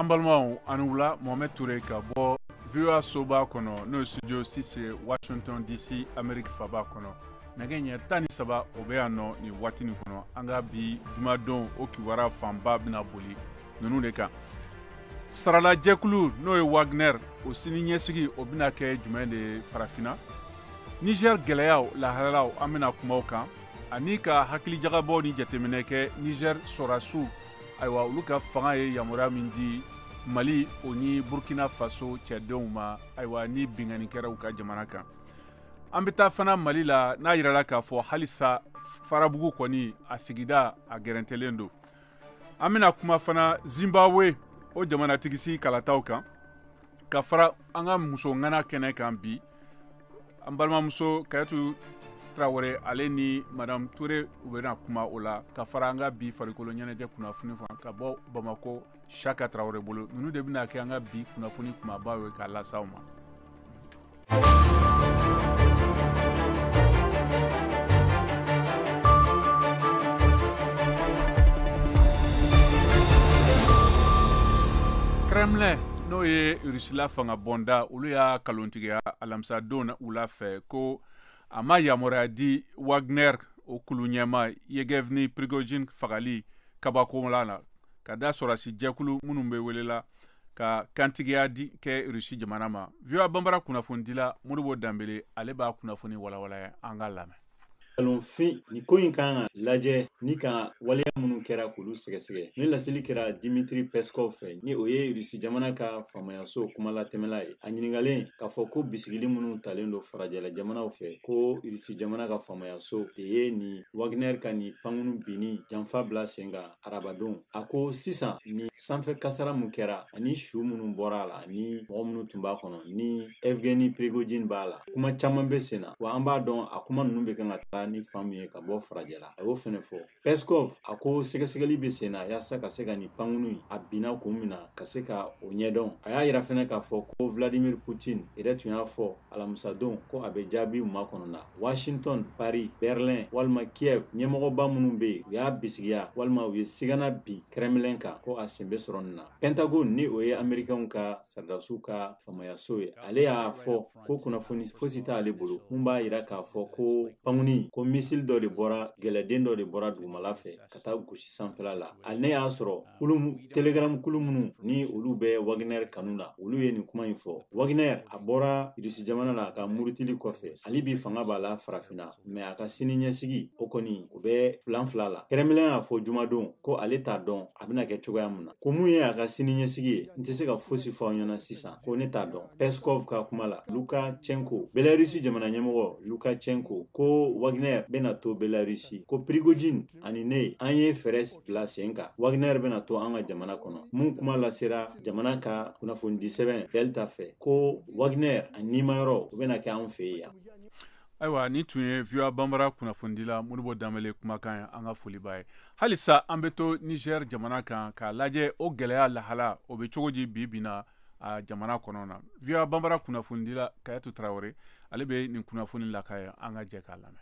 an balimaw aw ni wula mohamɛd ture ka bɔ voa soba kɔnɔ n'o ye studio six ye washington dc amerique faaba kɔnɔ nɛgɛ ɲɛ tan ni saba o bɛ yan nɔ nin waati nin kɔnɔ an ka bi jumadon o kibaruya fanba bɛna boli ninnu de kan saralajɛkulu n'o ye wagner o siniɲɛsigi o bɛna kɛ jumɛn de ye farafinna niger gɛlɛyaw lahalalaw an bɛna kuma u kan ani ka hakilijagabɔ ni jateminɛ kɛ nizɛr sɔrasiw ayiwa olu ka fanga ye yamaruya min di mali o ni burkina faso cɛdenw ma ayiwa ni binkanni kɛra u ka jamana kan an bɛ taa fana mali la n'a yirala k'a fɔ halisa farabugu kɔni a sigida a gɛrɛntɛlen don an bɛna kuma fana zimbabwe o jamanatigisi kalataw kan ka fara an ka muso ŋana kɛnɛ kan bi an balimamuso kayatu tarawele ale ni madame ture u bɛna kuma o la ka fara an ka bi farikolo ɲɛnajɛ kunnafoni fan ka bɔ bamako shaka tarawele bolo ninnu de bɛna kɛ an ka bi kunnafoni kumabaw ye k'a lase aw ma kremlin n'o ye rusila fanga bonda olu y'a kalontigiya alamisa don wula fɛ ko a ma yamaruya di wagner o kulu ɲɛmaa yegevni prigojin fagali kabakola la ka da sɔrɔsi jɛkulu minnu bɛ welela ka kantigiya di kɛ rusi jamana ma voa banbara kunnafonidila modibo danbele ale b'a kunnafoni walawala an k'a lamɛn nkalonfin ni ko in k'an ka lajɛ ni ka waleya minnu kɛra k'olu sɛgɛsɛgɛ nin laseli kɛra dimitri peskov fɛ ni o ye rusi jamana ka faamayaso kumalatɛmɛla ye a ɲiningalen k'a fɔ ko bisigili minnu talen don farajɛla jamanaw fɛ ko rusi jamana ka faamayaso de ye nin wagner ka nin pankunu binni janfa bila sen kan arabadon a ko sisan nin sanfɛ kasara min kɛra ani su minnu bɔra a la ani mɔgɔ minnu tun b'a kɔnɔ ni evgeni prigojin b'a la kuma caman bɛ sen na wa an b'a dɔn a kuma ninnu bɛ kan ka taa ni fan min ye ka bɔ farajɛla a y'o fɛnɛ fɔ peskov a ko sɛgɛsɛgɛli bɛ sen na yaasa ka se ka nin pankunu in a binna kun min na ka se ka o ɲɛdɔn a y'a yira fɛnɛ k'a fɔ ko vladimir putin yɛrɛ tun y'a fɔ alamisadon ko a bɛ jaabi makɔnɔna washington paris berlin walima kiev ɲɛmɔgɔba minnu bɛ yen u y'a bisigiya walima u ye sigana bin kremlin kan ko a sen bɛ sɔrɔ nin na pentagon ni o ye amerikɛnw ka saridasiw ka faamayaso ye ale y'a fɔ ko kunnafoni fosi t'ale bolo min b'a yira k'a fɔ ko pankunu ko misili dɔ de bɔra gɛlɛden dɔ de bɔra dugumala fɛ ka taa gosi sanfɛla la ale ne y'a sɔrɔ telegram kulu minnu ni olu bɛ wagner kanu na olu ye nin kuma in fɔ wagner a bɔra irisi jamana la a ka murutili kɔfɛ hali bi fanga b'a la farafinna mɛ a ka sini ɲɛsigi o kɔni o bɛ filanfila la kremlin y'a fɔ jumadon ko ale t'a dɔn a bɛna kɛ cogoya min na ko mun ye a ka sini ɲɛsigi ye n tɛ se ka fosi fɔ aw ɲɛna sisan ko ne t'a dɔn peskov ka kuma la lukachenko belarisi jamana ɲɛmɔgɔ lukachenko ko wagner bɛna to belarisi ko prigojin ani ne an ye fɛɛrɛ bila sen kan wagner bɛna to an ka jamana kɔnɔ mun kuma lasera jamana ka kunnafonidi sɛbɛn belta fɛ ko wagner a nimayɔrɔ o bɛna kɛ an fɛ yan ayiwa nin tun ye voa banbara kunnafonidila modibo danbele kumakan ye an ka foli b'a ye halisa an bɛ to niger jamana kan k'a lajɛ o gɛlɛya lahala o bɛ cogo di bi bi na a jamana kɔnɔna voa banbara kunnafonidila kayatu tarawele ale bɛ nin kunnafoni laka ye an ka jɛ k'a lamɛn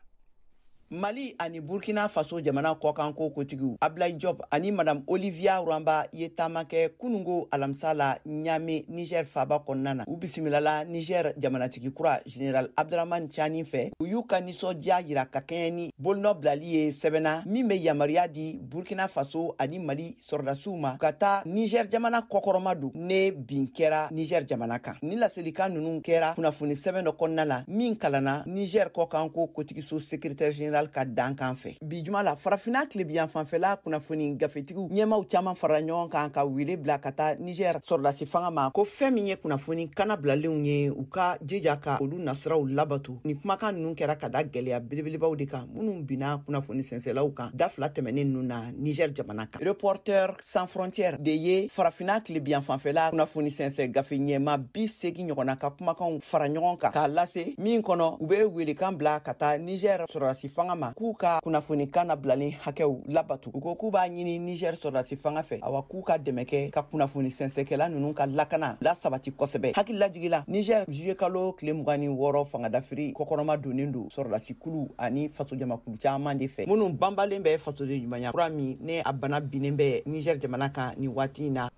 mali ani burkina faso jamana kɔkanko kotigiw ablayi job ani madam olivia rwamba ye taama kɛ kunungo alamisa la ɲame niger faba kɔnɔna na u bisimilala niger jamanatigi kura general abdurahman cani fɛ u y'u ka nisɔndiya yira ka kɛɲɛ ni bolonɔ bilali ye sɛbɛn na min be yamariya di burkina faso ani mali sɔrɔdasiw ma ka taa nizɛr jamana kɔkɔrɔma don ni bin kɛra nizɛr jamana kan ni laselikan nunu kɛra kunnafoni sɛbɛn dɔ kɔnɔna la min kalanna nizɛr kɔkanko kotigiso sekretɛri general ka dankan fɛ bi juma la farafina tilebiyan fanfɛla kunnafoni gafetigiw ɲɛmaw caaman farala ɲɔgɔn kan ka wele bila ka taa nizɛr sɔrɔdasi fanga ma ko fɛn min ye kunnafoni kannabilalenw ye u ka jija ka olu nasiraw labato ni kumakan nunu kɛra ka da gwɛlɛya belebelebaw de kan minnu binna kunnafoni sɛnsɛlaw kan da fila tɛmɛnen nunu na niger jamana kan reporter sans frontière de ye farafina tilebiyan fanfɛla kunnafoni sɛnsɛ gafe ɲɛmaa bi seegin ɲɔgɔnna ka kumakanw fara ɲɔgɔn kan k'a lase min kɔnɔ u be welekan bila ka taa niger sɔrɔdasi fanga ma k'u ka kunnafoni kannabilalen hakɛw labato u ko k'u b'a ɲini niger sɔrɔdasi fanga fɛ awa k'u ka dɛmɛ kɛ ka kunnafoni sɛnsɛkɛla nunu ka lakana lasabati kosɛbɛ hakililajigi la niger juye kalo tile mugan ni wɔɔrɔ fangadafiri kɔkɔrɔma donnen don sɔrɔdasi kulu ani fasojamakulu caman de fɛ minnu banbalen bɛ fasoden ɲumanya kura min ne a bana binnen bɛ niger jamana kan ni waati in na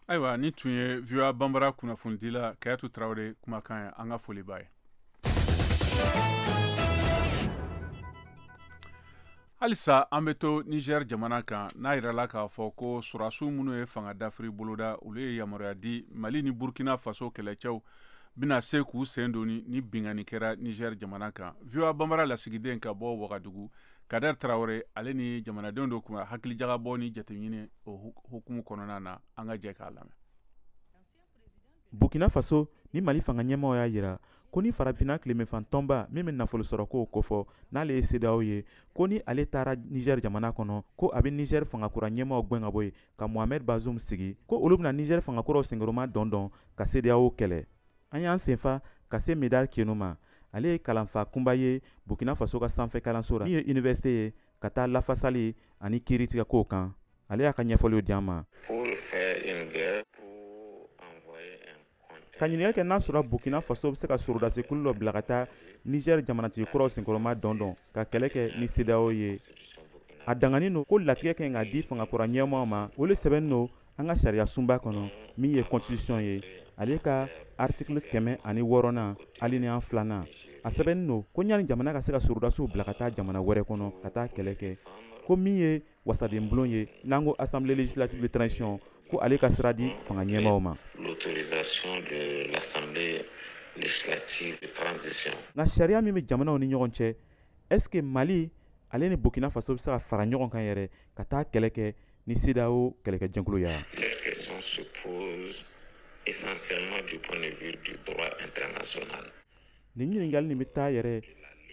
ayiwa nin tun ye voa banbara kunnafonidila kayatu tarawele kumakan ye an ka foli b'a ye halisa an bɛ to niger jamana kan n'a yirala k'a fɔ ko sorasiw minnu ye fanga dafiri boloda olu ye yamaruya di mali ni burkina faso kɛlɛcɛw bɛna se k'u sen don ni binkanni kɛra Niger jamana kan. VOA Bambara lasigiden ka bɔ Wagadugu, Kader Traore ale ni jamanadenw dɔ kuma hakilijagabɔ ni jateminɛ o hukumu kɔnɔna na an ka jɛ k'a lamɛn. Burkina Faso ni Mali fanga ɲɛmaaw y'a yira ko ni farafinna tilebenfan tɔnba min bɛ nafolosɔrɔkow kofɔ n'ale ye CEDEAO ye ko ni ale tagara Niger jamana kɔnɔ ko a bɛ Niger fangakura ɲɛmaaw gwɛn ka bɔ yen ka mohamed bazoum sigi ko olu bɛna nizɛri fangakuraw senkɔrɔma dɔn dɔn ka sedeyawo kɛlɛ an y'an senfa ka se médard kiénou ma ale ye kalanfa kunba ye burkina faso ka sanfɛ kalanso ra min ye université ye ka taa lafasali ani kiiritigɛkow kan ale y'a ka ɲɛfɔliw di an ma ka ɲininkali kɛ n'a sɔrɔ burkina faso bɛ se ka sorodasikulu dɔ bila ka taa niger jamanatigi kuraw senkɔrɔma dɔndɔn ka kɛlɛ kɛ ni cedeao ye a danganin don ko latigɛ kan ka di fangakura ɲɛmaa ma o le sɛbɛnnin don an ka sariya sunba kɔnɔ min ye constitution ye ale ka artikili kɛmɛ ani wɔɔrɔnan alineya filanan a sɛbɛnnin don ko ɲani jamana ka se ka sorodasiw bila ka taa jamana wɛrɛ kɔnɔ ka taa kɛlɛ kɛ ko min ye wasaden bulon ye n'an ko assemblée législative de transition ko ale ka sira di fanga ɲɛmaaw ma l'autorisation de l'assemblée législative de transition nka sariya min bɛ jamanaw ni ɲɔgɔn cɛ est ce que mali ale ni burkina faso bɛ se ka fara ɲɔgɔn kan yɛrɛ ka taa kɛlɛ kɛ ni cedeao kɛlɛkɛjɛkulu ya cette question se pose essentiellement du point de vue du droit international nin ɲininkali nin bɛ taa yɛrɛ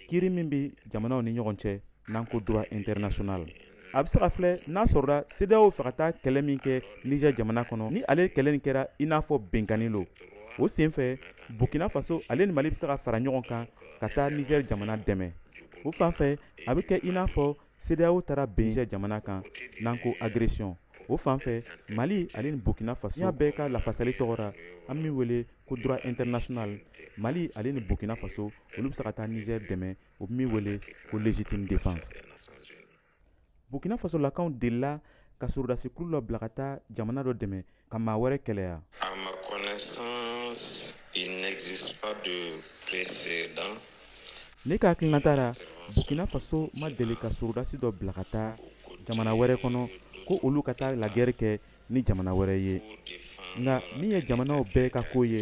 kiiri min bɛ jamanaw ni ɲɔgɔn cɛ n'an ko droit international a bɛ se ka filɛ n'a sɔrɔla CEDEAO fɛ ka taa kɛlɛ min kɛ Niger jamana kɔnɔ ni ale kɛlɛ nin kɛra i n'a fɔ binkanni lo o senfɛ Burkina Faso ale ni Mali bɛ se ka fara ɲɔgɔn kan ka taa Niger jamana dɛmɛ o fan fɛ a bɛ kɛ i n'a fɔ CEDEAO taara bin Niger jamana kan n'an ko agression o fan fɛ Mali ale ni Burkina Faso diɲɛ bɛɛ ka lafasali tɔgɔ ra an bɛ min wele ko droit international Mali ale ni Burkina Faso olu bɛ se ka taa Niger dɛmɛ u bɛ min wele ko légitime défense Burkina Faso lakaw delila ka sorodasikulu dɔ bila ka taa jamana dɔ dɛmɛ ka maa wɛrɛ kɛlɛ ya à ma connaissance il n'existe pas de précédent ne ka hakilinata ra burkina faso ma deli ka sorodasi dɔ bila ka taa jamana wɛrɛ kɔnɔ ko olu ka taa la guerre kɛ ni jamana wɛrɛ ye nka min ye jamanaw bɛɛ ka ko ye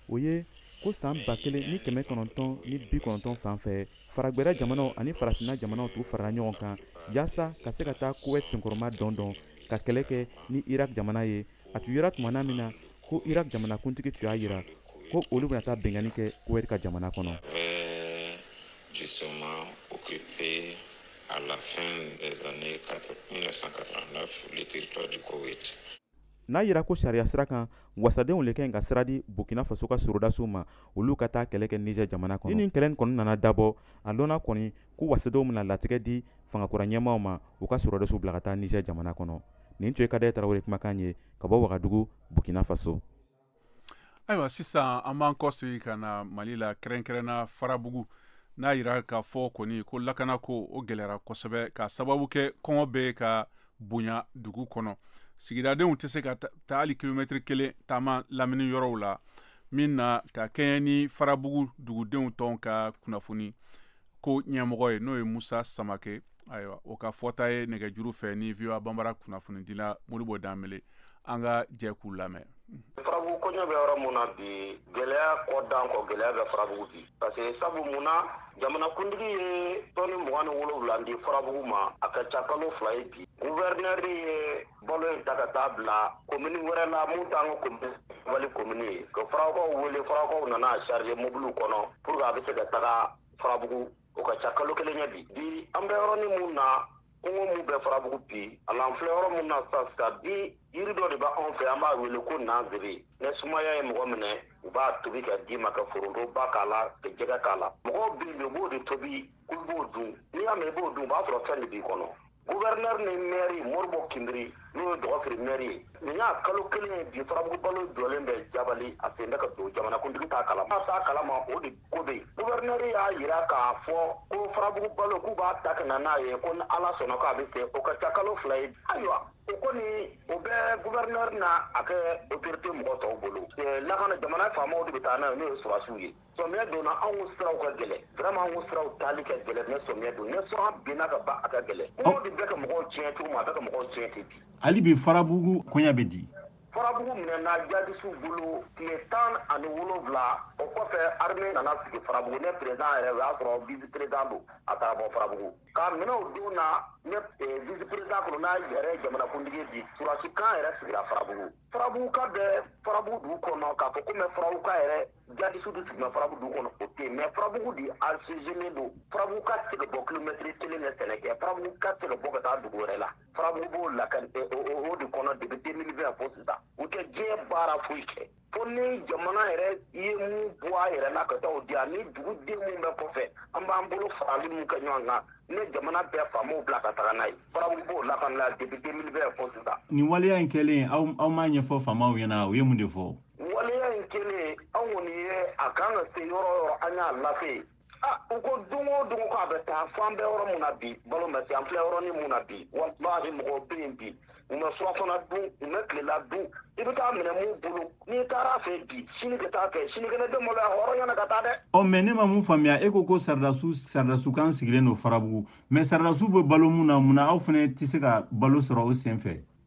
o ye ko saan ba kelen ni kɛmɛ kɔnɔntɔn ni bi kɔnɔntɔn fan fɛ faragwɛrɛ jamanaw ani farafinna jamanaw tun farala ɲɔgɔn kan yaasa ka se ka taa kuwɛt senkɔrɔma dɔn dɔn ka kɛlɛ kɛ ni irak jamana ye a tun yera tumana min na ko irak jamanakuntigi tun y'a yira ko olu bɛna taa binkanni kɛ kuwɛt ka jamana kɔnɔ justement occupé à la fin des années 1989 le territoire du Koweït. n'a yira ko sariya sira kan wasadenw le kan ka sira di burkina faso ka sorodasiw ma olu ka taa kɛlɛ kɛ niger jamana kɔnɔ ni nin kɛlɛ kɔni nana dabɔ a lɔnna kɔni ko wasadenw bɛna latigɛ di fangakura ɲɛmaaw ma u ka sorodasiw bila ka taa niger jamana kɔnɔ nin tun ye kader tarawele kumakan ye ka bɔ wagadugu burkina faso ayiwa sisan an b'an kɔsegi ka na mali la kɛrɛnkɛrɛnna farabugu n'a yira k'a fɔ kɔni ko lakana ko o gɛlɛyara kosɛbɛ ka sababu kɛ kɔngɔ bɛ ka bonya dugu kɔnɔ sigidadenw tɛ se ka taa hali kilomɛtiri kelen taama lamini yɔrɔw la min na ka kɛɲɛ ni farabugu dugudenw tɔn ka kunnafoni ko ɲɛmɔgɔ ye n'o ye musa samake ayiwa o ka fɔta ye nɛgɛjuru fɛ ni voa banbara kunnafonidila modibo danbele an ka jɛ k'u lamɛn farabugu koɲɛ bɛ yɔrɔ mun na bi gɛlɛya kɔ dan kɔ gɛlɛya bɛ farabugu bi parce que sabu mun na jamanakuntigi ye tɔni mugan ni wolowula di farabugu ma a ka ca kalo fila ye bi guvɛrinɛri ye balo in ta ka taa bila komini wɛrɛ la mun t'an ka komini wali komini ye ka farakɔw wele farakɔw nana a charger mobiliw kɔnɔ pour que a bɛ se ka taga farabugu o ka ca kalo kelen ye bi bi an bɛ yɔrɔnin mun na kɔngɔ mun bɛ farabugu bi a la an filɛ yɔrɔ mun na sisan sisan bi yiri dɔ de bɛ anw fɛ an b'a wele ko nansɛbɛ ni sumaya ye mɔgɔ minɛ u b'a tobi ka d'i ma ka foronto ba k'a la ka jɛgɛ k'a la mɔgɔw bɛ yen u b'o de tobi k'u b'o dun n'i y'a mɛn i b'o dun o b'a sɔrɔ fɛn de b'i kɔnɔ Gouverneur ni maire Modibo Kinbiri n'o ye Dɔgɔfiri maire ye nin y'a kalo kelen ye bi farabugu balo jɔlen bɛ jabali a sen tɛ ka don jamanakuntigi t'a kalama a t'a kalama o de ko bɛ yen gouverneur y'a jira k'a fɔ ko farabugu balo k'u b'a ta ka na n'a ye ko ni ala sɔnna k'a bɛ se o ka ca kalo fila ye ayiwa o kɔni o bɛ gouverneur n'a ka autorité mɔgɔ tɔw bolo lakana jamana faamaw de bɛ taa n'a ye n'o ye sɔrɔdasiw ye Samiyɛ donna anw siraw ka gɛlɛn vraiment anw siraw taali ka gɛlɛn mais samiyɛ don ni sɔngɔ binna ka ban a ka gɛlɛn kɔngɔ de bɛ ka mɔgɔw tiɲɛ cogo min a bɛ ka mɔgɔw tiɲɛ ten bi hali bi farabugu koɲa bɛ di farabugu minɛna jadisiw bolo tile tan ani wolonwula o kɔfɛ armée nana sigi farabugu ne président yɛrɛ o y'a sɔrɔ vice président don a taara bɔ farabugu k'a minɛ o don na ne eh, vice président colonel yɛrɛ jamanakuntigi bi sɔrɔdasi kan yɛrɛ sigira farabugu farabuguka bɛ farabugu dugu kɔnɔ k'a fɔ ko mɛ farabuguka yɛrɛ Jadisiw de sigilen farabugu dugu kɔnɔ o tɛ mɛ farabugu de asezelen don farabuguka tɛ se ka bɔ kilomɛtiri kelen ka sɛnɛ kɛ farabuguka tɛ se ka bɔ ka taa dugu wɛrɛ la farabugu b'o lahala de kɔnɔ depuis deux mille vingt fo sisan u tɛ diɲɛ baara foyi kɛ fo ni jamana yɛrɛ ye min bɔ a yɛrɛ la ka taa o di ani duguden min bɛ kɔfɛ an b'an bolo farali min kɛ ɲɔgɔn kan ne jamana bɛ faamaw bila ka taga n'a ye farabugu b'o lahala la depuis deux mille vingt fo sisan nin waleya in kɛlen aw aw m'a ɲɛfɔ faamaw ɲɛna u ye mun de fɔ waleya in kɛlen an kɔni ye a ka kan ka se yɔrɔ o yɔrɔ an y'a lase u ko don o don ko a bɛ taa fo an bɛ yɔrɔ min na bi balo ma se an filɛ yɔrɔnin min na bi walahi mɔgɔw bɛ yen bi u ma surafana dun u ma tilela dun i bɛ taa minɛ mun bolo n'i taara a fɛ bi sini ka taa fɛ sinikɛnɛ bɛ maloya hɔrɔnya na ka taa dɛ. ɔ mɛ ne ma mun faamuya e ko ko sɔrɔdasiw sɔrɔdasi kan sigilen don farabugu mɛ sɔrɔdasiw bɛ balo mun na mun na aw fana tɛ se ka balo sɔrɔ o sen fɛ.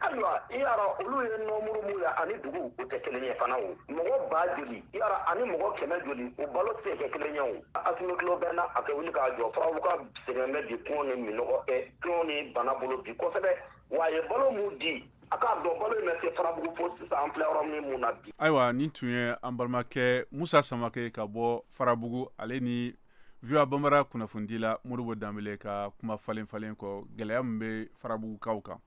ayiwa i y'a dɔn olu ye nɔmuru min ye ani dugu o tɛ kelen ye fana o mɔgɔ ba joli i y'a dɔn ani mɔgɔ kɛmɛ joli o balo tɛ se ka kɛ kelen ye o asimi tulo bɛ an na a ka wuli k'a jɔ farabugukaw sɛgɛnnen bɛ bi kɔngɔ ni minnɔgɔ ɛ kɔngɔ ni bana bolo bi kosɛbɛ wa a ye balo min di a k'a dɔn balo in ma se farabugu fo sisan an filɛ yɔrɔ min mun na bi ayiwa nin tun ye an balimakɛ musa samake ka bɔ farabugu ale ni voa bambara kunnafonidila modibo danbele ka kuma falen falen kɔ gɛlɛya min bɛ farabugukaw kan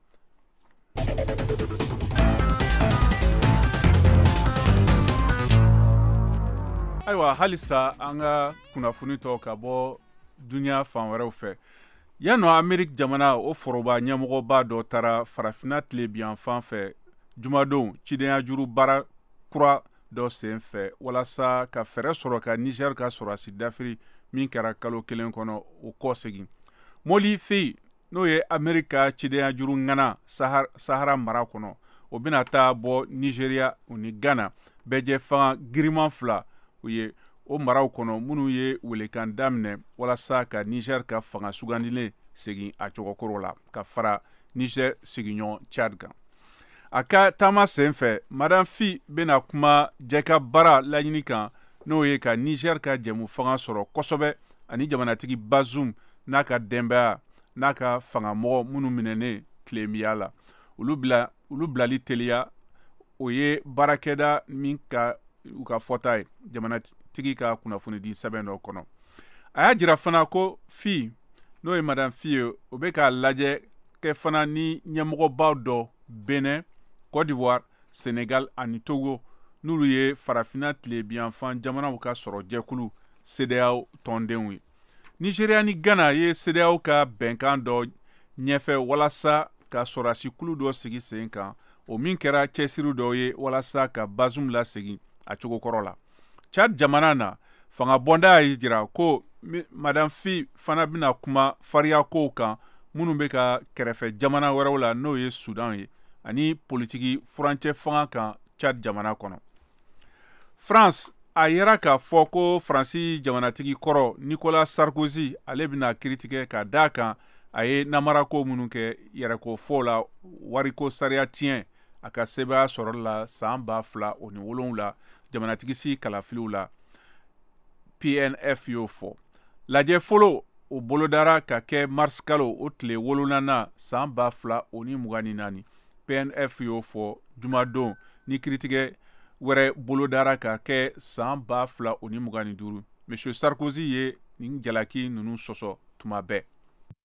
ayiwa halisa an ka kunnafoni tɔ ka bɔ duniɲa fan wɛrɛw fɛ yan nɔ ameriki jamana o foroba ɲɛmɔgɔba dɔ taara farafina tilebiyanfan fɛ jumadon cidenya juru baara kura dɔ sen fɛ walasa ka fɛɛrɛ sɔrɔ ka nizɛri ka sɔrɔdasi dafiri min kɛra kalo kelen kɔnɔ o kɔ segin moli fi n'o ye ameriki ka cidenya juru ŋana sahara mara kɔnɔ o bɛna taa bɔ nizeriya u ni ghana bɛɛjɛ fanga giriman fila u ye o maraw kɔnɔ minnu ye welekan daminɛ walasa ka nizɛri ka fanga sugandilen segin a cogokɔrɔ la ka fara nizɛri sigiɲɔgɔn chad kan a ka taama sen fɛ madan fi bɛna kuma jɛkabaara laɲini kan n'o ye ka niger ka jɛmu fanga sɔrɔ kosɛbɛ ani jamanatigi bazum n'a ka denbaya n'a ka fangamɔgɔ minnu minɛnen tilemiya la olu bilali teliya o ye baarakɛda min ka u ka fɔta ye jamanatigi ka kunnafonidi sɛbɛn dɔ kɔnɔ a y'a jira fana ko fi n'o ye madan fi ye o bɛ ka lajɛ kɛ fana ni ɲɛmɔgɔbaw dɔ benin cote d'ivoire senegal ani togo n'olu ye farafina tilebiyanfan jamanaw ka sɔrɔ jɛkulu sedeyaw tɔndenw ye nigeria ni ghana ye sedeyaw ka bɛnkan dɔ ɲɛfɛ walasa ka sɔrɔdasi kulu dɔ sigi sen kan o min kɛra cɛsiri dɔ ye walasa ka bazum lasegin a cogo kɔrɔ la cad jamana na fanga bɔnda y'a jira ko madan fi fana bɛna kuma fariya kow kan minnu bɛ ka kɛrɛfɛ jamana wɛrɛw la n'o ye sudan ye ani politiki furancɛ fanga kan cad jamana kɔnɔ france a yira k'a fɔ ko faransi jamanatigi kɔrɔ nicolas sarkozy ale bɛna kiritigɛ ka d'a kan a ye namarako minnu kɛ yɛrɛkofɔw la wariko sariya tiɲɛ a ka sebaaya sɔrɔ la san ba fila o ni wolonwula jamanatigisigi kalafiliw la pnf y'o fɔ lajɛ fɔlɔ o bolodara ka kɛ marisikalo o tile wolonwulanan san ba fila o ni mugan ni naani pnf y'o fɔ jumadon ni kiritigɛ wɛrɛ bolodara ka kɛ san ba fila o ni mugan ni duuru monsieur sarkozy ye nin jalaki ninnu sɔsɔ tuma bɛɛ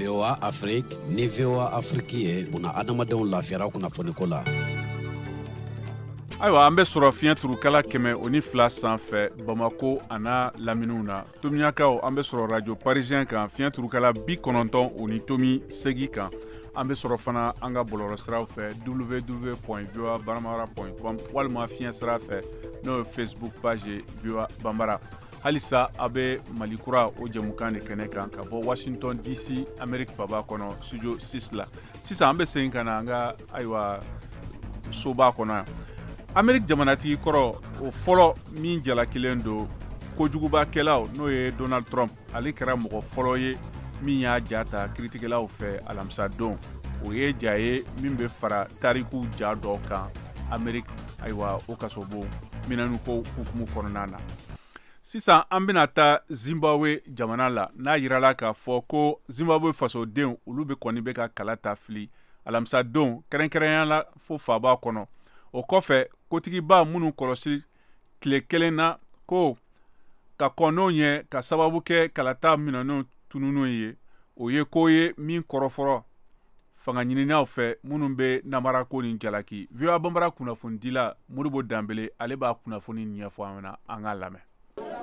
VOA Afrique ni VOA Afrique ye buna adamadenw lafiyara kunnafoniko la. Ayiwa an bɛ sɔrɔ fiɲɛ turukala kɛmɛ o ni fila sanfɛ Bamako an'a laminiw na. tomiyakaw an be sɔrɔ radio parisien kan fiɲɛ turukala bi kɔnɔntɔn o ni tomi segi kan an be sɔrɔ fana an ka bɔlɔlɔ siraw fɛ www voa banbara com walima fiɲɛ sira fɛ n'o ye facebook page ye voa banbara halisa a be mali kura o jɛmukan de kɛnɛ kan ka bɔ washington dc amerik faba kɔnɔ studio 6 la sisan an be segin ka na an ka ayiwa soba kɔnɔ yan ameriki jamanatigi kɔrɔ o fɔlɔ min jalakilen don kojugubakɛlaw n'o ye donald trump ale kɛra mɔgɔ fɔlɔ ye min y'a ja ta kiritigɛlaw fɛ alamisadon o ye ja ye min bɛ fara tarikuw ja dɔ kan ameriki ayiwa o kasobon minɛniko hukumu kɔnɔna na sisan an bɛna taa zimbabwe jamana la n'a yirala k'a fɔ ko zimbabwe fasodenw olu bɛ kɔni bɛ ka kalata fili alamisadon kɛrɛnkɛrɛnya la fo faba kɔnɔ o kɔfɛ kotigiba minnu kɔlɔsi tile kelen na ko ka kɔn o ɲɛ ka sababu kɛ kalata minɛnw tununenw ye o ye ko ye min kɔrɔfɔrɔ fangaɲininaw fɛ minnu bɛ nanbarako nin jalaki voa bambara kunnafonidila modibo danbele ale b'a kunnafoni ɲɛfɔ an ɲɛ na an k'a lamɛn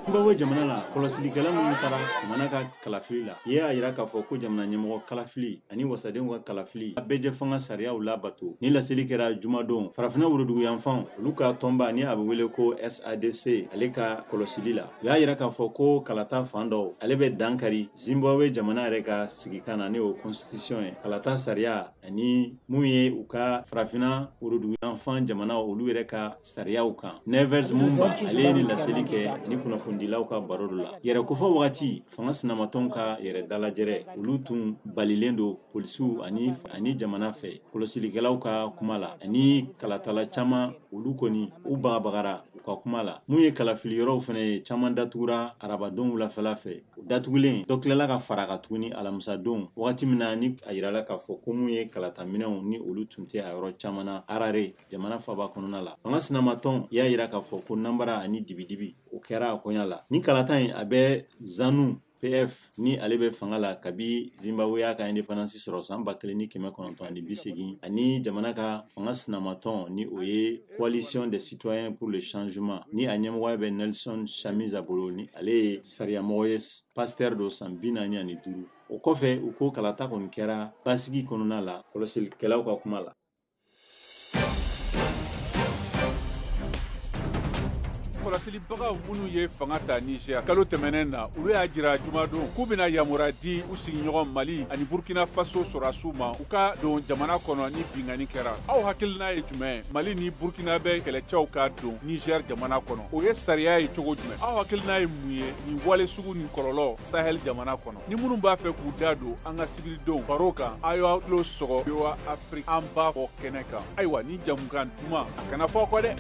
Zimbabwe jamana la kɔlɔsilikɛla minnu taara jamana ka kalafili la y'a yira k'a fɔ ko jamana ɲɛmɔgɔ kalafili ani wasadenw ka kalafili a bɛɛjɛ fanga sariyaw labato ni laseli kɛra jumadon farafinna woroduguyanfanw olu ka tɔnba ni a bɛ wele ko sadc ale ka kɔlɔsili la u y'a yira k'a fɔ ko kalata fan dɔw ale bɛ dankari zimbabwe jamana yɛrɛ ka sigikan na ni o kɔnsitisiyɔn ye kalata sariya ani mun ye u ka farafinna woroduguyanfan jamanaw olu yɛrɛ ka sariyaw kan nevers mumba ale ye ni laseli kɛ ani kunnafonidilaw ka baro dɔ la yɛrɛkofɔ wagati fanga sinamatɔn ka yɛrɛ dalajɛrɛ olu tun balilen don polisiw ani jamana fɛ kɔlɔsilikɛlaw ka kuma la ani kalatala caman olu kɔni u bagabagara u ka kuma la mun ye kalafiliyɔrɔw fɛnɛ ye caman datugura arabadon wulafɛla fɛ datugulen dɔ tilala ka fara a kan tuguni alamisadon wagati min na ni a yirala k'a fɔ ko mun ye kalata minɛnw ni olu tun tɛ a yɔrɔ caman na harare jamana faba kɔnɔna la fanga sinamatɔn y'a yira k'a fɔ ko nanbara ani dibidibi o kɛra a koɲa la ni kalata in a bɛ zanu pf ni ale bɛ fanga la kabi zimbabwe y'a ka independance sɔrɔ san ba kelen ni kɛmɛ kɔnɔntɔn ani bi segin ani jamana ka fanga sinamatɔn ni o ye coalition des citoyens pour le changement ni a ɲɛmɔgɔya bɛ nelson chamisa bolo ni ale ye sariyamɔgɔ ye pasitɛri dɔ san bi naani ani duuru o kɔfɛ u ko kalata kɔni kɛra basigi kɔnɔna la kɔlɔsilikɛlaw ka kuma la kɔlɔsilibagaw minnu ye fanga ta niger kalo tɛmɛnen na olu y'a jira jumadon k'u bɛna yamura di u sigiɲɔgɔn mali ani burkina faso sɔrɔdasiw ma u ka don jamana kɔnɔ ni binkanni kɛra aw hakilina ye jumɛn mali ni burkinabɛ kɛlɛcɛw ka don nizɛr jamana kɔnɔ o ye sariya ye cogo jumɛn aw hakilina ye mun ye nin wale sugu nin kɔlɔlɔ sahɛl jamana kɔnɔ ni minnu b'a fɛ k'u da don an ka sibiridon baro kan a y'aw tulo sɔgɔ voa afrique an b'a fɔ kɛnɛ kan ayiwa ni jamukan duman a kana fɔ kɔ dɛ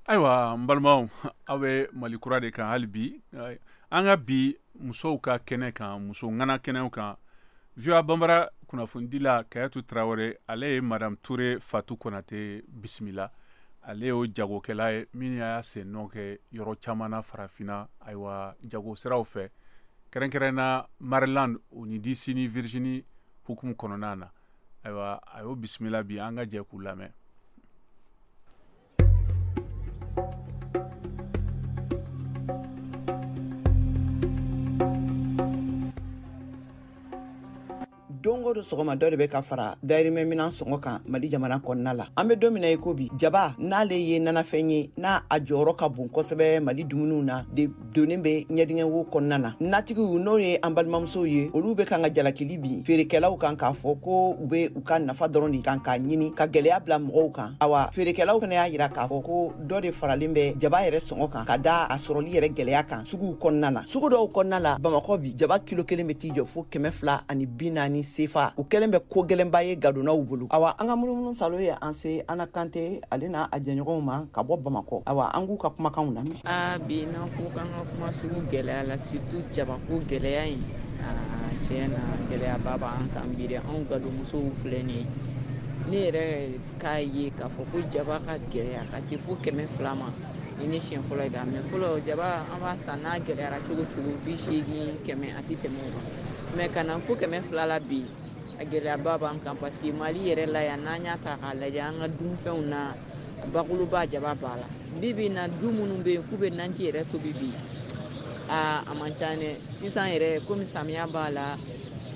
ayiwa n balimaw aw bɛ mali kura de kan hali bi an ka bi musow ka kɛnɛ kan muso ŋana kɛnɛw kan voa banbara kunnafonidila kayatu tarawele ale ye madame ture fatu konate bisimila ale y'o jagokɛla ye min y'a sen nɔ kɛ yɔrɔ caman na farafinna ayiwa jago siraw fɛ kɛrɛnkɛrɛnna maryland o ni dc ni virginie hukumu kɔnɔna na ayiwa a y'o bisimila bi an ka jɛ k'u lamɛn don o don sɔgɔma dɔ de bɛ ka fara dayirimɛ minan sɔngɔ kan mali jamana kɔnɔna la an bɛ don min na i ko bi jaba n'ale ye nanafɛn ye n'a a jɔyɔrɔ ka bon kosɛbɛ mali dumuniw na donnen bɛ ɲɛdingɛ wo kɔnɔna na natigiw n'o ye an balimamusow ye olu bɛ kan ka jalakili bin feerekɛlaw kan k'a fɔ ko u bɛ u ka nafa dɔrɔn de kan k'a ɲini ka gɛlɛya bila mɔgɔw kan awa feerekɛlaw fana y'a yira k'a fɔ ko dɔ de faralen bɛ jaba yɛrɛ sɔngɔ kan ka da a sɔrɔli yɛrɛ gɛlɛya kan suguw kɔnɔna na sugu dɔw kɔnɔna la bamakɔ bi jaba kilo kelen bɛ t'i jɔ fo kɛmɛ fila ani bi naani sefa o kɛlen bɛ ko gɛlɛnba ye gadonnaw bolo awa an ka munumunu salo ye an se ana kante ale n'a a jɛɲɔgɔnw ma ka bɔ bamakɔ awa an k'u ka kumakanw lamɛn aa bi n'an ko k'an ka kuma sugu gɛlɛya la surtout jabako gɛlɛya in aa tiɲɛ na gɛlɛyaba b'an kan bi dɛ anw gadonmusow filɛ nin ye ne yɛrɛ k'a ye k'a fɔ ko jaba ka gɛlɛya ka se fo kɛmɛ fila ma ni ne siɲɛ fɔlɔ ye k'a mɛn fɔlɔ jaba an b'a san n'a gɛlɛyara cogo cogo bi seegin kɛmɛ a tɛ tɛmɛ o kan mɛ ka na fo kɛmɛ fila la bi a gɛlɛyaba b'an kan paseke mali yɛrɛ la yan n'an y'a ta k'a lajɛ an ka dunfɛnw na bakuruba jaba b'a la bi bi na du minnu bɛ yen k'u bɛ naji yɛrɛ tobi bi aa a man ca dɛ sisan yɛrɛ komi samiya b'a la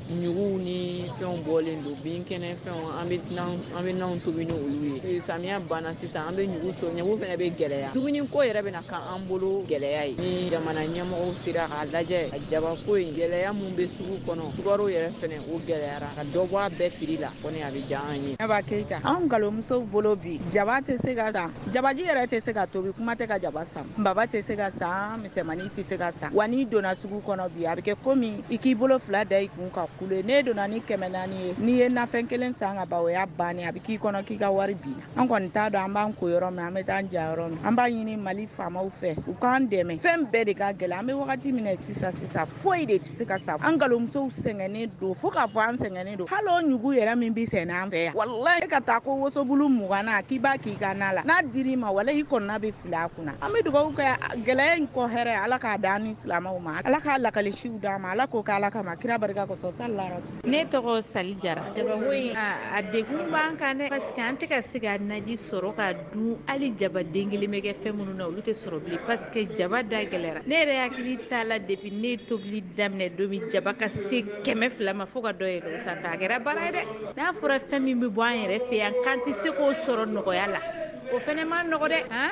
ɲuguw ni fɛnw bɔlen don binkɛnɛ fɛnw an bɛ naw tobi ni olu ye samiya banna sisan an bɛ ɲugu so ɲugu fɛnɛ bɛ gɛlɛya dumuni ko yɛrɛ bɛna k'an bolo gɛlɛya ye ni jamana ɲɛmɔgɔw sera k'a lajɛ a jabako in gɛlɛya mun bɛ sugu kɔnɔ sukaro yɛrɛ fɛnɛ O gɛlɛyara ka dɔ bɔ a bɛɛ prix la kɔni a bɛ diya an ye aba keyita an galomusow bolo bi jaba tɛ se ka san jabaji yɛrɛ tɛ se ka tobi kuma tɛ ka jaba san baba tɛ se ka san misɛnmani tɛ se ka san wa n'i donna sugu kɔnɔ bi a bɛ kɛ komi i k'i bolo fila da i kun ka kule ne donna ni kɛmɛ naani ye n'i ye nafɛn kelen san ka ba o y'a bannen a bɛ k'i kɔnɔ k'i ka wari binna an kɔni t'a dɔn an b'an ko yɔrɔ min an bɛ taa ja yɔrɔ min an b'a ɲini mali faamaw fɛ u k'an dɛmɛ fɛn bɛɛ de ka gɛlɛn an bɛ wagati min na sisan sisan foyi de tɛ se ka san an galomusow sɛgɛnnen don fo k'a fɔ an sɛgɛnnen don hali o ɲugu yɛrɛ min bɛ sɛnɛ an fɛ yan walayi e ka taa ko wosobulu mugan na k'i b'a k'i ka na la n'a dir'i ma walayi i kɔnɔna bɛ fili a kunna an bɛ dugawu kɛ gɛlɛya in kɔ hɛrɛ ala k'a d'an ni silamɛw ma ala k'a lakalisiw d'an ma ala k'o kɛ ala kama kira barika kosɔn sallallahu ne tɔgɔ sali jara jabago in a degun b'an kan dɛ parce que an tɛ ka se ka naji sɔrɔ ka dun hali jaba den kelen bɛ kɛ fɛn minnu na olu tɛ sɔrɔ bilen parce que jaba da gɛlɛra ne yɛrɛ hakili t'a la depuis ne tobili daminɛ don min jaba ka se kɛmɛ fila ma fo ka dɔ yɛlɛn o sanfɛ a kɛra baara ye dɛ n'a fɔra fɛn min bɛ bɔ an yɛrɛ fɛ yan k'an tɛ se k'o sɔrɔ nɔgɔya la o fɛnɛ ma nɔgɔ dɛ han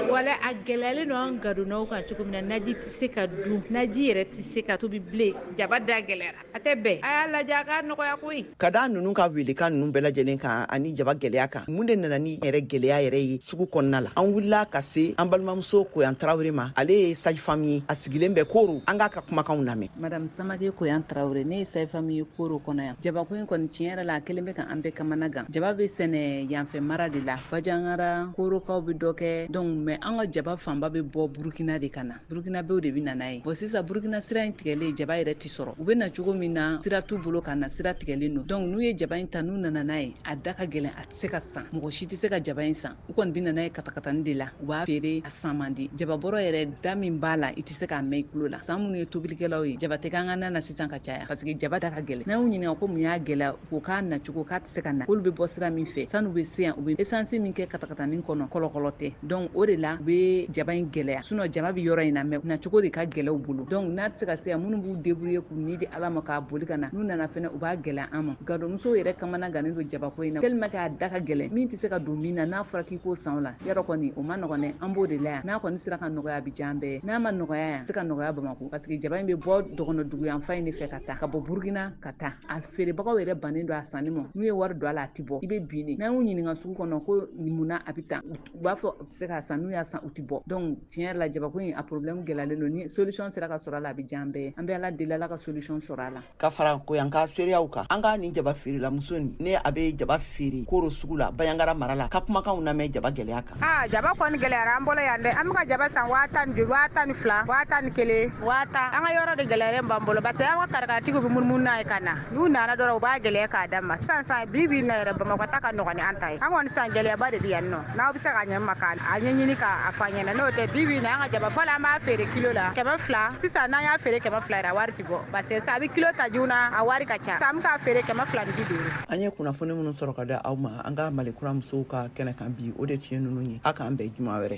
wala a gɛlɛyalen don an gadonnaw kan cogo min na naji tɛ se ka dun naji yɛrɛ tɛ se ka tobi bilen jaba da gɛlɛyara a tɛ bɛn a y'a lajɛ a k'a nɔgɔya koyi ka da nunu ka welekan nunu bɛɛ lajɛlen kan ani jaba gwɛlɛya kan mun de nana ni yɛrɛ gwɛlɛya yɛrɛ ye sugu kɔnɔna la an wulila ka se an balimamuso koyan tarawele ma ale ye sage-femme ye a sigilen bɛ koro an k'a ka kumakanw lamɛn madame samake koyan tarawele ne ye sage-femme ye koro kɔnɔ yan jabako in kɔni tiɲɛ yɛrɛ la a kɛlen bɛ ka an bɛɛ kamana gan jaba bɛ sɛnɛ yanfɛ mara de la bajangara korokaw bɛ dɔ kɛ donc mais an ka jaba fanba bɛ bɔ burukina de ka na burukinabɛw de bɛ na n'a ye bɔn sisan burukina sira in tigɛlen jaba yɛrɛ tɛ sɔrɔ u bɛ na cogo min na sira t'u bolo ka na sira tigɛlen don dɔnku n'u ye jaba in ta n'u nana n'a ye a da ka gɛlɛn a tɛ se ka san mɔgɔ si tɛ se ka jaba in san u kɔni bɛ na n'a ye katakatani de la u b'a feere a san man di jababɔrɔ yɛrɛ da min b'a la i tɛ se k'a mɛn i tulo la sa an minnu ye tobilikɛlaw ye jaba tɛ k'an ka na na sisan ka caya paseke jaba da ka gɛlɛn n'an y'u ɲininka ko mun y'a gɛlɛya ko k'a nacogo k'a tɛ se ka na k'olu bɛ bɔ sira min fɛ san'u bɛ se yan u bɛ esansi min kɛ katakatanin kɔnɔ kɔlɔkɔlɔ tɛ donc o de la u bɛ jaba in gɛlɛya sinɔn jaba bɛ yɔrɔ in na mɛ nacogo de ka gɛlɛn u bolo donc n'a tɛ se ka se yan minnu b'u debrouiller k'u ni di ala ma k'a boli ka na n'u nana fɛnɛ u b'a gɛlɛya an ma gadonmusow yɛrɛ kamana gannen don jabako in na tellement k'a da ka gɛlɛn min tɛ se ka don min na n'a fɔra k'i k'o san o la yɔrɔ kɔni o ma nɔgɔn dɛ an b'o de la yan n'a kɔni sera ka nɔgɔya a bɛ diya an bɛɛ n'a ma nɔgɔya yan a tɛ se ka nɔgɔya bamakɔ parce que jaba in bɛ bɔ dɔgɔnɔdugu yanfan in de fɛ ka taa ka bɔ burukina ka taa a feerebagaw yɛrɛ bannen don a sanni ma n'u ye wari don a la a tɛ bɔ i bɛ bin de n'an y'u ɲininka sugu kɔnɔ ko munna a bɛ tan u b'a fɔ u tɛ se k'a san n'u y'a san u tɛ bɔ donc tiɲɛ yɛrɛ la jabako in a problème gɛlɛyalen don ni solution sera ka sɔrɔ a la a bɛ diya an bɛɛ ye an bɛ ala deli ala ka solution sɔrɔ a la ka fara koyan ka seereyaw kan an ka nin jaba feerelamuso nin ne a bɛ jaba feere koro sugu la bayangara mara la ka kumakanw lamɛn jaba gɛlɛya kan aa jaba kɔni gɛlɛyara an bolo yan dɛ an bɛka jaba san waa tan ni duuru waa tan ni fila waa tan ni kelen waa tan an ka yɔrɔ de gɛlɛyalen b'an bolo parce que an ka karakatigiw bɛ munumunu n'a ye ka na n'u nana dɔrɔn u b'a gɛlɛya k'a d'an ma sisan san bi bi na yɛrɛ bamakɔ ta ka nɔgɔn ni an ta ye an kɔni san gɛlɛyaba de bɛ yan nɔ n'aw bɛ se ka ɲɛ ma k'a ɲɛɲini k'a fɔ an ɲɛna n'o tɛ bi bi na an ka jaba fɔlɔ an b'a feere kilo la kɛmɛ fila sisan n'an y'a feere kɛmɛ fila yɛrɛ a wari ti bɔ parce que sa a bɛ kilo ta joona a wari ka ca sisan an bɛ k'a feere kɛmɛ fila ni bi duuru an ye kunnafoni minnu sɔrɔ ka d'aw ma an ka malikura musow ka kɛnɛ kan bi o de tun ye ninnu ye a k'an bɛn juma wɛrɛ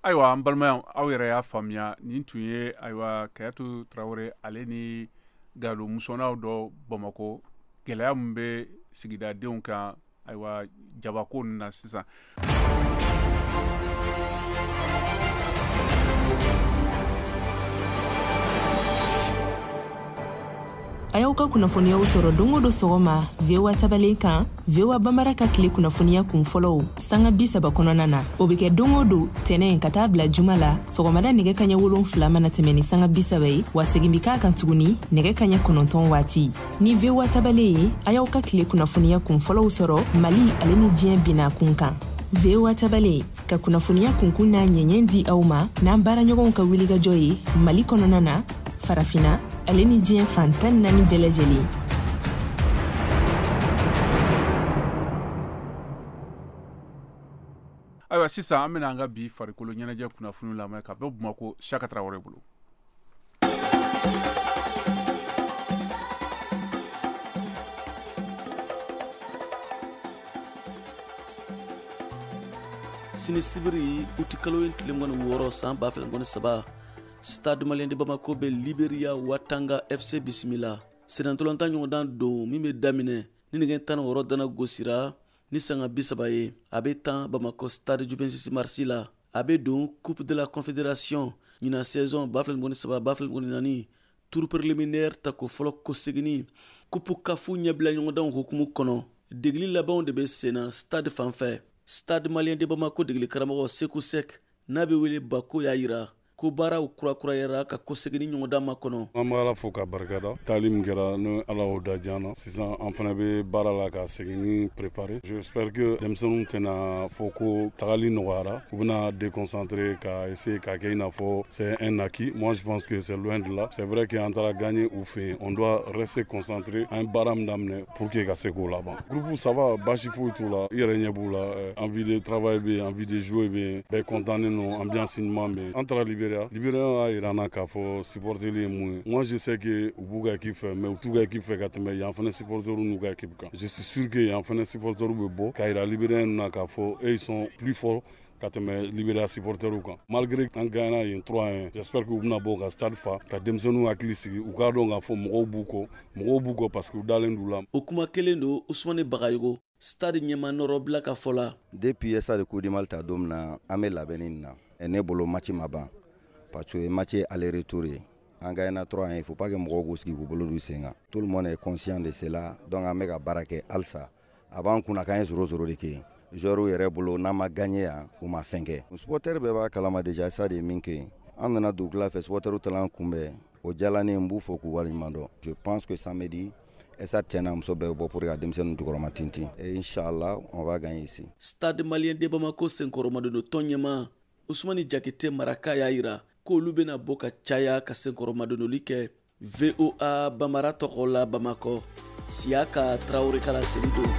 ayiwa an balimayaw aw yɛrɛ y'a faamuya nin tun ye ayiwa kayatu tarawele ale ni gadonmusow na dɔ bamakɔ gɛlɛya min bɛ sigidadenw kan ayiwa jabako ninnu na sisan a y'aw ka kunnafoniyaw sɔrɔ don o don sɔgɔma voa tabale kan voa bambara ka tile kunnafoniya kun fɔlɔw sanga bi saba kɔnɔna na o be kɛ don o don tɛnɛn ka taa bila juma la sɔgɔmada nɛgɛ kaɲɛ wolon fila mana tɛmɛ ni sanga bi saba ye wa segin be k'a kan tuguni nɛgɛ kaɲɛ kɔnɔntɔn waati ni voa tabale ye a y'aw ka tile kunnafoniya kun fɔlɔw sɔrɔ mali ale ni diɲɛ bina kun kan voa tabale ka kunnafoniya kunkun n'a ɲɛɲɛ di aw ma n'an baaraɲɔgɔnw ka wilikajɔ ye mali kɔnɔna na farafina ale ni diɲɛ fan tan naani bɛɛ lajɛlen ayiwa sisan an bena an ka bi farikolo ɲɛnajɛ kunnafoni lamɛn ka bɔ bamakɔ siaka tarawele bolo sini sibiri uti kalo in tile mugan ni wɔɔrɔ san ba fila mugan ni saba stade malien de bamako bɛ liberia watanga fc bisimila sennantolatan ɲɔgɔndan don min bɛ daminɛ ni nɛgɛ tan wɔɔrɔ dana gosira ni sanga bi saba ye a bɛ tan bamakɔ stade du vingt-six mars la a bɛ don coupe de la confédération ɲina saison ba fila mugan ni saba ba fila mugan ni naani tour préliminaire tako fɔlɔ kɔseginni coupe caf ɲɛbila ɲɔgɔndanw hukumu kɔnɔ degeli labanw de bɛ senna stade fan fɛ stade malien de bamako degeli karamɔgɔ seku sek n'a bɛ wele bako y'a yira ko baaraw kurakurayara ka kɔseginni ɲɔgɔndan makɔnɔ an bɛ ala fo ka barika da taali min kɛra ni ala y'o da diya an na sisan an fana bɛ baara la ka seginni préparer j'espère que denmisɛnninw tɛna fɔ ko tagali nɔgɔyara u bɛna déconcentrer ka essayer ka kɛ i n'a fɔ c'est un acquis moi je pense que c'est loin de là c'est vrai que an taara gagner u fɛ yen on doit rester concentré an ye baara min daminɛ pour que ka se k'o laban groupe ça va basi foyi t'u la i yɛrɛ ɲɛ b'u la eh, envie de travail bɛ yen envie de jouer bɛ yen bɛɛ kɔntannen don ambiance ɲuman bɛ yen an taara liberiya liberiya y'a yira an na k'a fɔ supporteli ye mun ye moi je sais que u b'u ka équipe fɛ mais u t'u ka équipe fɛ ka tɛmɛ yan fana supporteurs n'u ka équipe kan je suis sûr que yan fana supporteurs bɛ bɔ k'a yira libérien na k'a fɔ eux ils sont plus forts ka tɛmɛ liberiya supportɛrw kan malgré an gagnana yen 3 à 1 j'espère que u bɛna bɔ ka stade fa ka denmisɛnninw hakili sigi u k'a dɔn k'a fɔ mɔgɔw b'u kɔ mɔgɔw b'u kɔ parce que u dalen d'u la o kuma kelen don usumane bagayogo stade ɲɛmaa nɔrɔbila ka fɔ la depuis stade coupe du mali ta don min na an bɛ labɛnni na ne bolo match ma ban parce que match ye aller retour ye an gagnana 3 à 1 il faut pas que mɔgɔw k'u sigi k'u bolo d'u sen kan tout le monde est conscient de cela donc an bɛ ka baara kɛ halisa a b'an kunna k'an ye zéro zéro de kɛ joueurs yɛrɛ bolo n'an ma gagner yan u ma fɛn kɛ supɔtɛri bɛɛ b'a kalama déjà stade ye min kɛ an nana dugukila fɛ supɔtɛriw taala an kunbɛn o diyala ne ye n b'u fo k'u waleɲuman dɔn je pense que samedi stade cɛ n'a muso bɛɛ bɛ bɔ pour que ka denmisɛnninw jukɔrɔmatintin et inchallah on va gagner ici stade malien de bamako senkɔrɔmadon tɔn ɲɛmaa usumani jakite maraka y'a yira k'olu bɛna bɔ ka caya ka senkɔrɔmadonoli kɛ voa bambara tɔgɔ la bamakɔ siyaka tarawele ka laseli don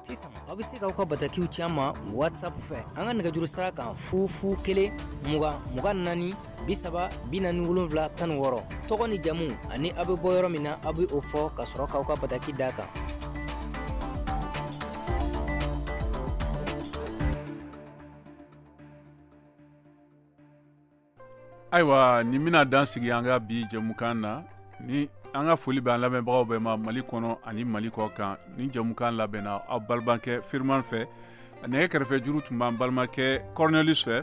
sisan aw bɛ se k'aw ka batakiw ci an ma whatsapp fɛ an ka nɛgɛjuru sira kan fu fu kelen mugan mugan naani bi saba bi naani wolonfila tan ni wɔɔrɔ tɔgɔ ni jamu ani aw be bɔ yɔrɔ min na aw be o fɔ ka sɔrɔ k'aw ka bataki d'a kan ayiwa nin bena dan sigi an ka bi jɛmukan na ni an ka foli b'an lamɛnbagaw bɛɛ ma mali kɔnɔ ani mali kɔkan nin jɛmukan labɛnna aw balimakɛ firiman fɛ nɛgɛ kɛrɛfɛ juru tun b'an balimakɛ cornelius fɛ